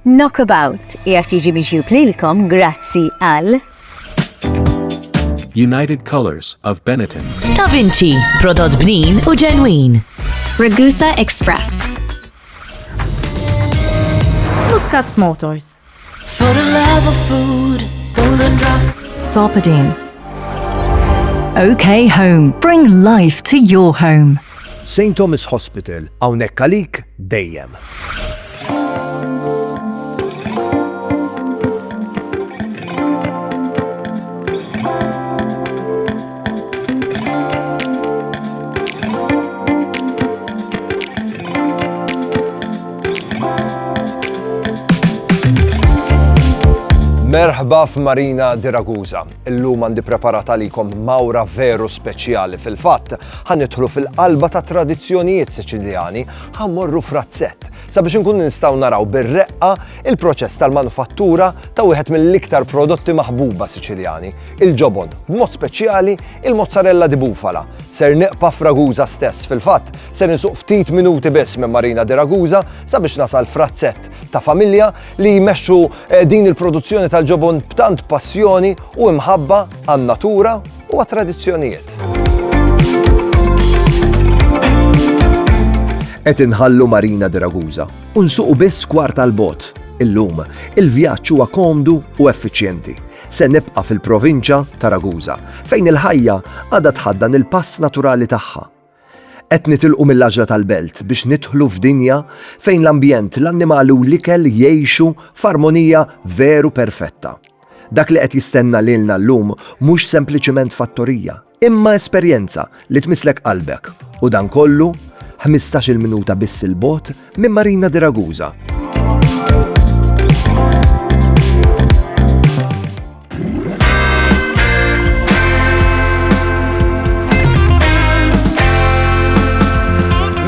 Knockabout qiegħed jiġi miġjub lilkom grazzi għal United Colors of Benetton. Da Vinci, prodott bnin u ġenwin. Ragusa Express. Muscats Motors. For the love of food, golden drop. Sopadine. OK Home. Bring life to your home. St. Thomas Hospital, hawnhekk għalik dejjem. Merħba f'Marina di Ragusa. Illum għandi preparat għalikom mawra veru speċjali fil-fatt. Ħanidħlu fil-qalba ta' tradizzjonijiet Siċiljani, Ħa mmorru f'razzett sabiex inkunu nistgħu naraw bir-reqqa il-proċess tal-manufattura ta' wieħed mill-iktar prodotti maħbuba Siċiljani, il-ġobon, b'mod speċjali il-mozzarella di bufala. Ser neqpa' f'Raguża stess, fil-fatt ser insuq ftit minuti biss minn Marina di Raguża sabiex nasal frazzett ta' familja li jmexxu eh, din il-produzzjoni tal-ġobon b'tant passjoni u imħabba għan-natura u għat-tradizzjonijiet. Qed inħallu Marina di Ragusa u nsuqu biss kwart tal-bot. Illum, il-vjaġġ huwa komdu u effiċjenti. Se nibqa' fil-provinċja ta' Ragusa, fejn il-ħajja għadha tħaddan il-pass naturali tagħha Qed nitilqu mill-għaġla tal-belt biex nidħlu f'dinja fejn l-ambjent, l-annimali u l-ikel jgħixu f'armonija veru perfetta. Dak li qed jistenna lilna llum mhux sempliċiment fattorija, imma esperjenza li tmisslek qalbek, u dan kollu ħmistax-il minuta biss 'il bogħod Minn Marina de Ragusa.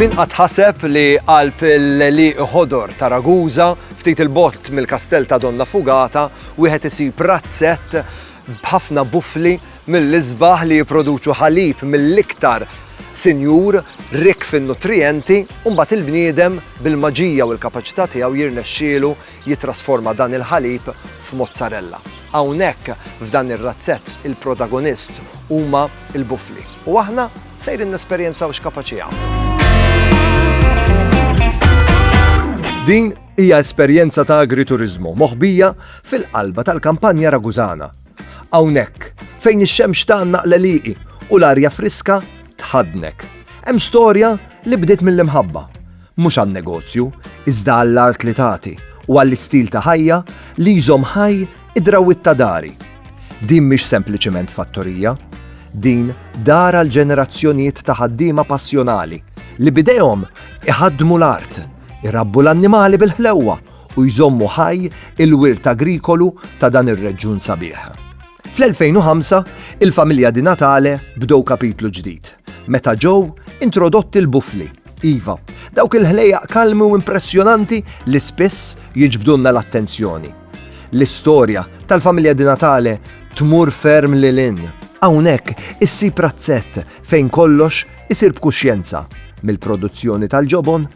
Min qatt ħaseb li qalb l-li ħodor ta' Ragusa ftit il-bott mill-kastell ta' Donna Fugata wieħed isib razzett b'ħafna bufli mill-isbaħ li jipproduċu ħalib mill-iktar sinjur rikk fin-nutrijenti u mbagħad il-bniedem bil-maġija u l-kapaċità tiegħu jirnexxielu jittrasforma dan il-ħalib f'mozzarella. Hawnhekk f'dan ir-razzett il-protagonist huma l-bufli u aħna sejrin nesperjenzaw x'kapaċi jagħmlu. Din hija esperjenza ta' agrituriżmu moħbija fil-qalba tal-kampanja Ragusana Hawnhekk, fejn ix-xemx tgħannaq l-għelieqi u l-arja friska tħaddnek, hemm storja li bdiet mill-imħabba. Mhux għan-negozju, iżda għall-art li tagħti u għall-istil ta' ħajja li jżomm ħaj id-drawwiet ta' dari. Din mhix sempliċement fattorija. Din dar għal ġenerazzjonijiet ta' ħaddiema passjonali li b'idejhom iħaddmu l-art, irabbu l-annimali bil-ħlewwa u jżommu ħaj il-wirt agrikolu ta' dan ir-reġjun sabiħ. Fl-2005, il-familja Di Natale bdew kapitlu ġdid, meta ġew introdotti l-bufli, iva, dawk il-ħlejjaq kalmi u impressjonanti li spiss jiġbdulna l-attenzjoni. L-istorja tal-familja Di Natale tmur ferm lil hinn. Hawnhekk issib razzett fejn kollox isir b'kuxjenza, mill-produzzjoni tal-ġobon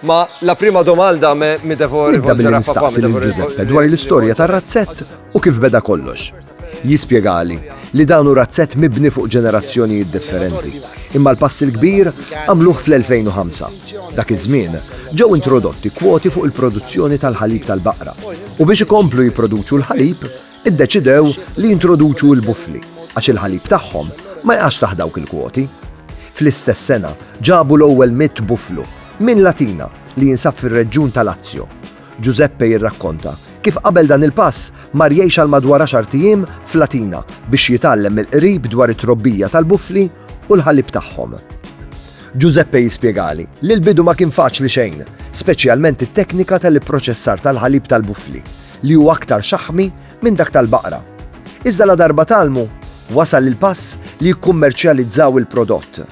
Ma la prima domanda me mi devo rivolgere a papà. Nibda billi nistaqsi lil Giuseppe dwar l-istorja tar-razzett u kif beda kollox. Jispjegali li dan hu razzett mibni fuq ġenerazzjonijiet differenti, imma l-pass il-kbir għamluh fl-2005. Dak iż-żmien ġew introdotti kwoti fuq il-produzzjoni tal-ħalib tal-baqra u biex ikomplu jipproduċu l-ħalib, iddeċidew li jintroduċu l-bufli għax il-ħalib tagħhom ma jaqax taħt dawk il-kwoti. Fl-istess sena ġabu l-ewwel mitt buflu minn Latina li jinsab fir-reġjun ta' Lazio. Giuseppe jirrakkonta kif qabel dan il-pass mar jgħix għal madwar għaxart ijiem f'Latina biex jitgħallem mill-qrib dwar it-trobbija tal-bufli u l-ħalib tagħhom. Giuseppe jispjegali li l-bidu ma kien faċli xejn, speċjalment it-teknika tal-ipproċessar tal-ħalib tal-bufli. li hu aktar xaħmi minn dak tal-baqra. Iżda ladarba tgħallmu, wasal il-pass li jikkummerċjalizzaw il-prodott.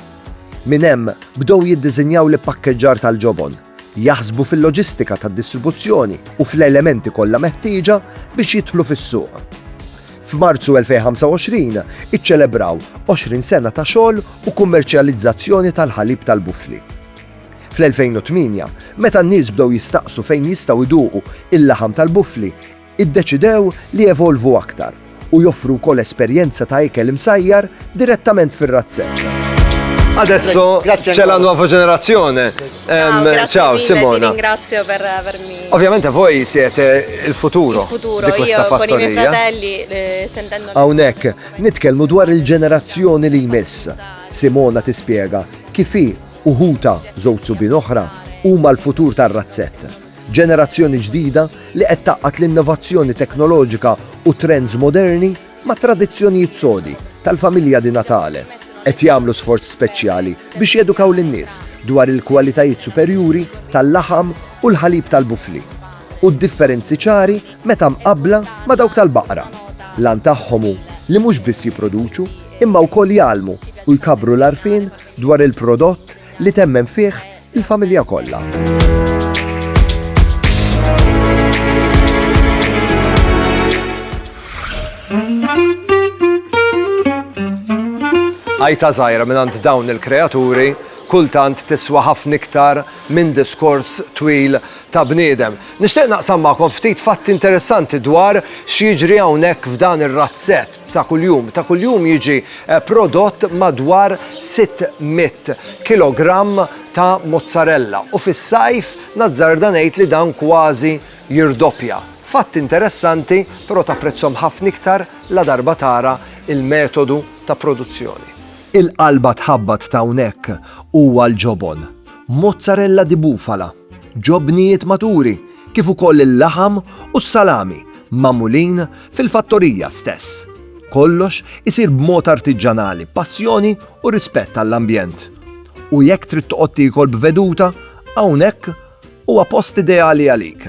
Minn hemm bdew jiddiżinjaw l-ippakkeġġar tal-ġobon, jaħsbu fil-loġistika tad-distribuzzjoni u fl-elementi kollha meħtieġa biex jidħlu fis-suq. F'Marzu 2025 iċċelebraw 20 sena ta' xogħol u kummerċjalizzazzjoni tal-ħalib tal-bufli. Fl-2008, meta n-nies bdew jistaqsu fejn jistgħu jduqu il-laħam tal-buffli, iddeċidew li jevolvu aktar u joffru wkoll esperjenza ta' ikel imsajjar direttament fir-razzetta. Adesso c'è la nuova generazione. Ehm, ciao, ciao Simona. Ti ringrazio per avermi. Ovviamente voi siete il futuro, il futuro di questa io, fattoria. Con i miei fratelli, eh, sentendo... Hawnhekk nitkellmu dwar il-ġenerazzjoni li jmiss. Simona tispjega kif hi u ħutha, żewġ subien oħra, huma l-futur tar-razzett. Ġenerazzjoni ġdida li qed tgħaqqad l-innovazzjoni teknoloġika u trends moderni mat-tradizzjonijiet sodi tal-familja Di Natale. Qed jagħmlu sforz speċjali biex jedukaw lin-nies dwar il-kwalitajiet superjuri tal-laħam u l-ħalib tal-bufli u d-differenzi ċari meta mqabbla ma' dawk tal-baqra. L-għan tagħhom hu li mhux biss jipproduċu imma wkoll jgħallmu u jkabbru l-għarfien Dwar il-prodott li temmen fih il-familja kollha. Għajta żgħira mingħand dawn il-kreaturi kultant tiswa ħafna iktar minn diskors twil ta' bniedem. Nixtieq naqsam magħkom ftit fatti interessanti dwar x'jiġri hawnhekk f'dan ir-razzett. ta' kuljum. Ta' kuljum jiġi eh, prodott madwar 600 kilogramm ta' mozzarella u fis-sajf nazzarda ngħid li dan kważi jirdoppja. Fatt interessanti, però ta' prezzom ħafna iktar la darba tara il-metodu ta' produzzjoni. Il-qalba tħabbat ta' hawnhekk huwa l-ġobon. Mozzarella di bufala. ġobnijiet maturi kif ukoll il-laħam u s-salami magħmulin fil-fattorija stess. Kollox isir b'mod artiġġanali b'passjoni u rispett għall-ambjent. U jekk trid toqgħod tiekol b'veduta, hawnhekk huwa post ideali għalik.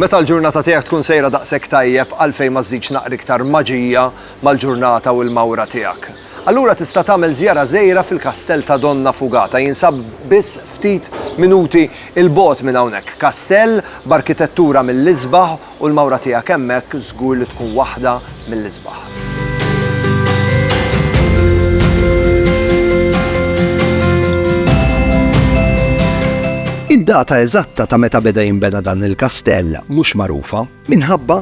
Meta l-ġurnata tiegħek tkun sejra daqshekk tajjeb għalfejn ma żżidx naqra iktar maġija mal-ġurnata u l-mawra tiegħek? Allura tista' tagħmel żjara żgħira fil-Kastell ta' Donna Fugata, jinsab biss ftit minuti 'l bogħod minn hawnhekk. Kastell b'arkitettura mill-isbaħ u l-mawra tiegħek hemmhekk żgur li tkun waħda mill-isbaħ. Id-data eżatta ta' meta beda jinbena dan il-kastell mhux magħrufa minħabba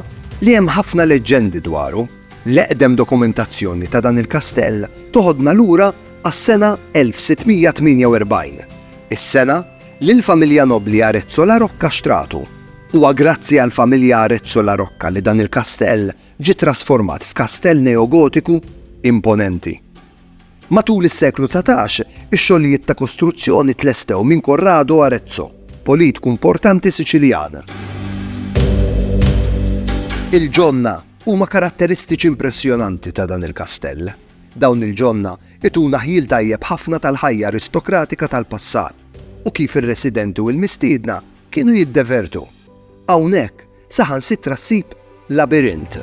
li hemm ħafna leġġendi dwaru. L-eqdem dokumentazzjoni ta' dan il-kastell toħodna lura għas-sena 1648, is-sena li l-familja nobbli Arezzo La Rocca xtratu. Huwa grazzi għall-familja Arezzo La Rocca li dan il-kastell ġie trasformat f'kastell neogotiku imponenti. Matul is-seklu dsatax, ix-xogħlijiet ta' kostruzzjoni tlestew minn Corrado Arezzo, politku importanti Siċiljan. Il-ġonna huma karatteristiċi impressjonanti ta' dan il-kastell. Dawn il-ġonna ituna ħjiel tajjeb ħafna tal-ħajja aristokratika tal-passat u kif ir-residenti u l-mistiedna Kienu jiddevertu. Hawnhekk saħansitra ssib labirint.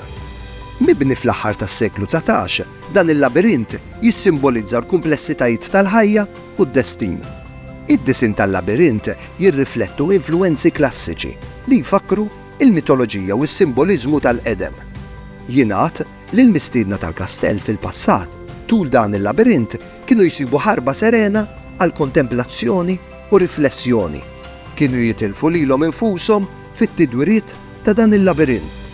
Mibni fl-aħħar tas-seklu dsatax, dan il-labirint jissimbolizza l-kumplessitajiet tal-ħajja u d-destin. Id-disinn tal-labirint jirriflettu influwenzi klassiċi li jfakkru l-mitoloġija u s-simboliżmu tal-qedem. Jingħad li l-mistiedna tal-kastell fil-passat, tul dan il-labirint, kienu jsibu ħarba serena għall-kontemplazzjoni u riflessjoni, kienu jitilfu lilhom infushom fit-tidwiriet ta' dan il-labirint.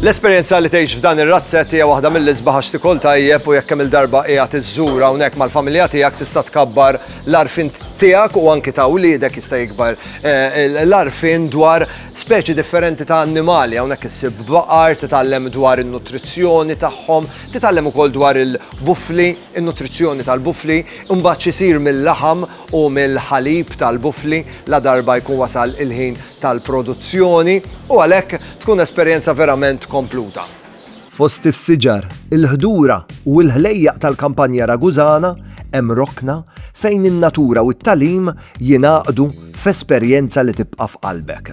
L-esperjenza li tgħix f'dan ir-razzett hija waħda mill-isbaħ għax tikol tajjeb u jekk kemm il-darba qiegħed iżżur hawnhekk mal-familja tiegħek tista' tkabbar l-arfin tiegħek u anki ta' wliedek jista' jikbar eh, l-arfin dwar Speċi differenti ta' annimali hawnhekk issib baqar, titgħallem dwar in-nutrizzjoni tagħhom, titgħallem ukoll dwar il-bufli, in-nutrizzjoni tal-bufli, imbagħad x'isir mil-laħam u mill-ħalib tal-bufli la darba jkun wasal il-ħin tal-produzzjoni u għalhekk tkun esperjenza verament kompluta. Fost is-siġar, il-ħdura u l-ħlejjaq tal-kampanja Ragusana hemm rokna fejn in-natura u t-tagħlim jingħaqdu f'esperjenza li tibqa' f'qalbek.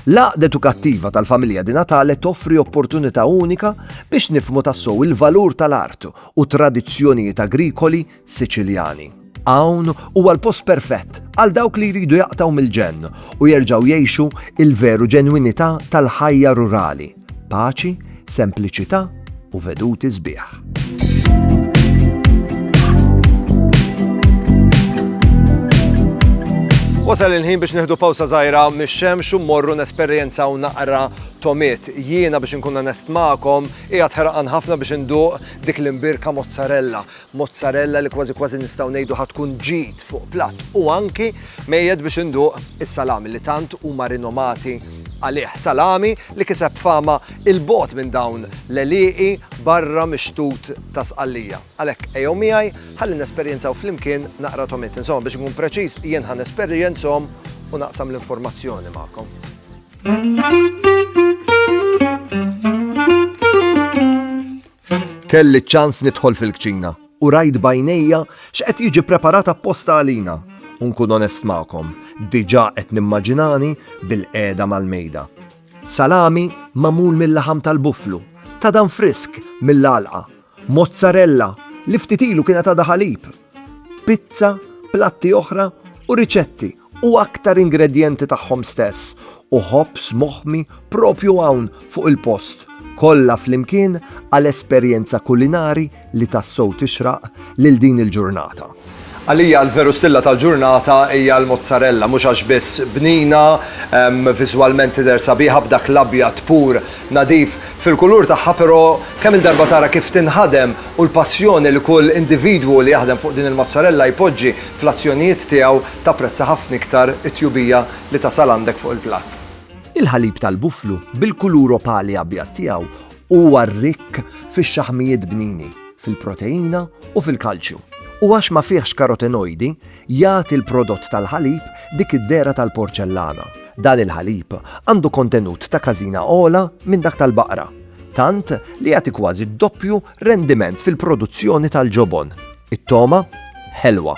L-Għaqda Edukattiva tal-Familja Di Natale toffri opportunità unika biex nifhmu tassew il-valur tal-art u t-tradizzjonijiet agrikoli Siċiljani. Hawn huwa l-post perfett għal dawk li jridu jaqtgħu mill-ġenn u jerġgħu jgħixu l-veru ġenwinità tal-ħajja rurali, paċi, sempliċità u veduti sbieħ. Wasal il-ħin biex neħdu pawsa zaħira mix-xemx u morru nesperjenza u naqra tomiet. Jiena biex nkun nest ma'kom, hija tħerqan ħafna biex induq dik l-imbirka mozzarella. Mozzarella li kważi kważi nistgħu ngħidu ħa tkun ġid fuq platt u anki mejjed biex induq is-salami li tant huma rinomati għalih. Salami li kiseb fama il-bogħod minn dawn l-għelieqi barra mix-xtut ta' Sqallija. Għalhekk ejjew miegħi ħalli nesperjenzaw flimkien naqra tomiet. Insomma biex inkun preċiż jien ħa nesperjenzhom u naqsam l-informazzjoni magħkom. Kelli ċ-ċans nidħol fil-kċina u rajt b'għajnejja x'qed jiġi ppreparat apposta għalina u nkun onest magħkom, diġà qed nimmaġinani bilqiegħda mal-mejda. Salami magħmul mil-laħam tal-bufflu, ta' dan frisk mill-għalqa, mozzarella li ftit ilu kienet għadha ħalib, pizza, platti oħra u riċetti u aktar ingredjenti tagħhom stess, u ħobż moħmi proprju hawn fuq il-post, kollha flimkien għal esperjenza kulinari li tassew tixraq lil din il-ġurnata. Għalija l-veru stilla tal-ġurnata hija l-mozzarella, mhux għax biss bnina, viżwalment tidher sabiħa b'dak l-abjad pur, nadif, fil-kulur tagħha però kemm-il darba tara kif tinħadem u l-passjoni li kull individwu li jaħdem fuq din il-mozzarella jpoġġi, Fl-azzjonijiet tiegħu tapprezza ħafna iktar it-tjubija li tasal għandek fuq il-platt. Il-ħalib tal-buflu, bil-kulur opali abjad tiegħu, huwa rikk fix-xaħmijiet bnini, fil-proteina u fil-kalċju, u għax ma fihx karotenojdi, jagħti l-prodott tal-ħalib dik id-dehra tal-porċellana. Dan il-ħalib għandu kontenut ta' każina ogħla minn dak tal-baqra, tant li jagħti kważi d-doppju rendiment fil-produzzjoni tal-ġobon. It-togħma ħelwa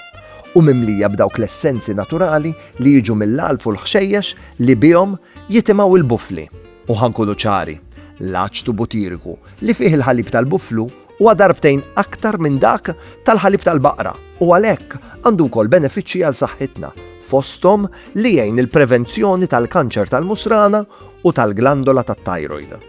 u mimlija b'dawk l-essenzi naturali li jiġu mill-għalf u l-ħxejjex li bihom jitimgħu l-bufli. U ħa nkunu ċari, l-aċtu butiriku li fih il-ħalib tal-buflu huwa darbtejn aktar minn dak tal-ħalib tal-baqra u għalhekk għandu wkoll benefiċċji għal saħħitna, fosthom li jgħin il-prevenzjoni tal-kanċer tal-musrana u tal-glandola tat-tajrojd.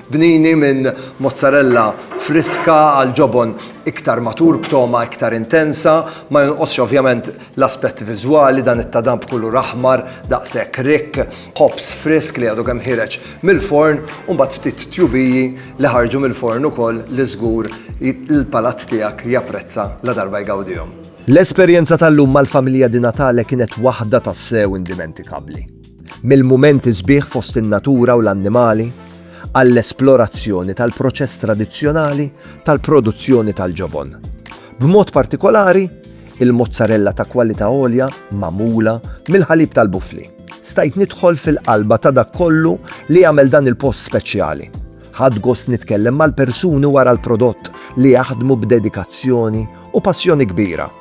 Bnini minn mozzarella friska għal ġobon iktar matur b'togħma iktar intensa. Ma jonqosx ovvjament l-aspett viżwali, dan it-tadam b'kulur aħmar daqshekk rikk, ħobż frisk li għadu kemm ħiereġ mill-forn u mbagħad ftit tjubiji li ħarġu mill-forn ukoll li żgur l-palat tiegħek japprezza ladarba jgawdihom. L-esperjenza tal-lum mal-familja Di Natale kienet waħda tassew indimentikabbli. mill-mumenti sbieħ fost in-natura u l-annimali għall-esplorazzjoni tal-proċess tradizzjonali tal-produzzjoni tal-ġobon. B'mod partikolari, il-mozzarella ta' kwalità għolja magħmula mill-ħalib tal-bufli. Stajt nidħol fil-qalba ta' dak kollu li jagħmel dan il-post speċjali. Ħadt gost nitkellem mal-persuni wara l-prodott li jaħdmu b'dedikazzjoni u passjoni kbira.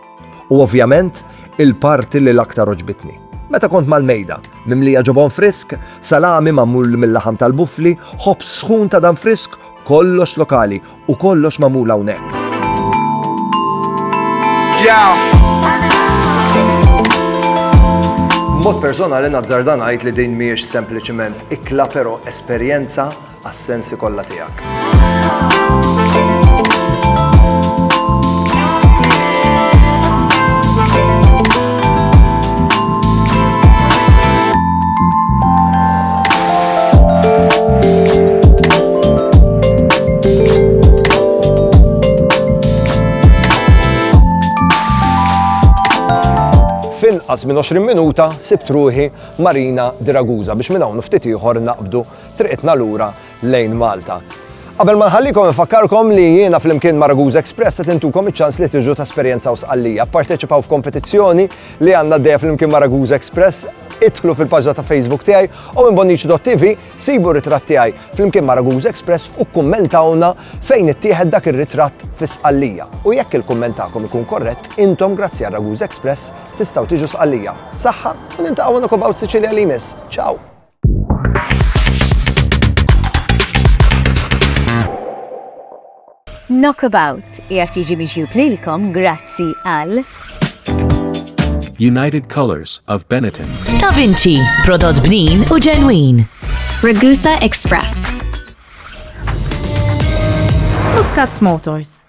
U ovvjament, il-parti li l-aktar għoġbitni. Meta kont mal-mejda, mimlija ġobon frisk, salami magħmul mil-laħam tal-buffli, ħobż sħun ta' dan frisk, kollox lokali u kollox magħmul hawnhekk. Mod personali nazzarda ngħid li din mhijiex sempliċiment ikla però esperjenza għas-sensi kollha tiegħek. f'inqas minn 20 minuta sibt ruħi Marina Diraguza biex minn hawn ftit ieħor naqbdu triqitna lura lejn Malta. Qabel ma nħallikom infakkarkom li jiena flimkien ma' Ragusa Express qed intukom iċ-ċans li tiġu tesperjenzaw Sqallija, pparteċipaw f'kompetizzjoni li għandna għaddejja flimkien ma' Ragusa Express, idħlu fil-paġna ta' Facebook tiegħi u minn bonnici.tv sibu r-ritratt tiegħi flimkien ma' Ragusa Express u kkummentawlna fejn ittieħed dak ir-ritratt fi Sqallija. U jekk il-kumment tagħkom ikun korrett, intom grazzi għal Ragusa Express tistgħu tiġu Sqallija. Saħħa u niltaqgħu in a Cob Out Sicilia li jmiss. Ciao! Knockabout qiegħed jiġi mixjub lilkom grazzi għal United Colors of Benetton. Da Vinci, prodott bnin u ġenwin. Ragusa Express. Muscats Motors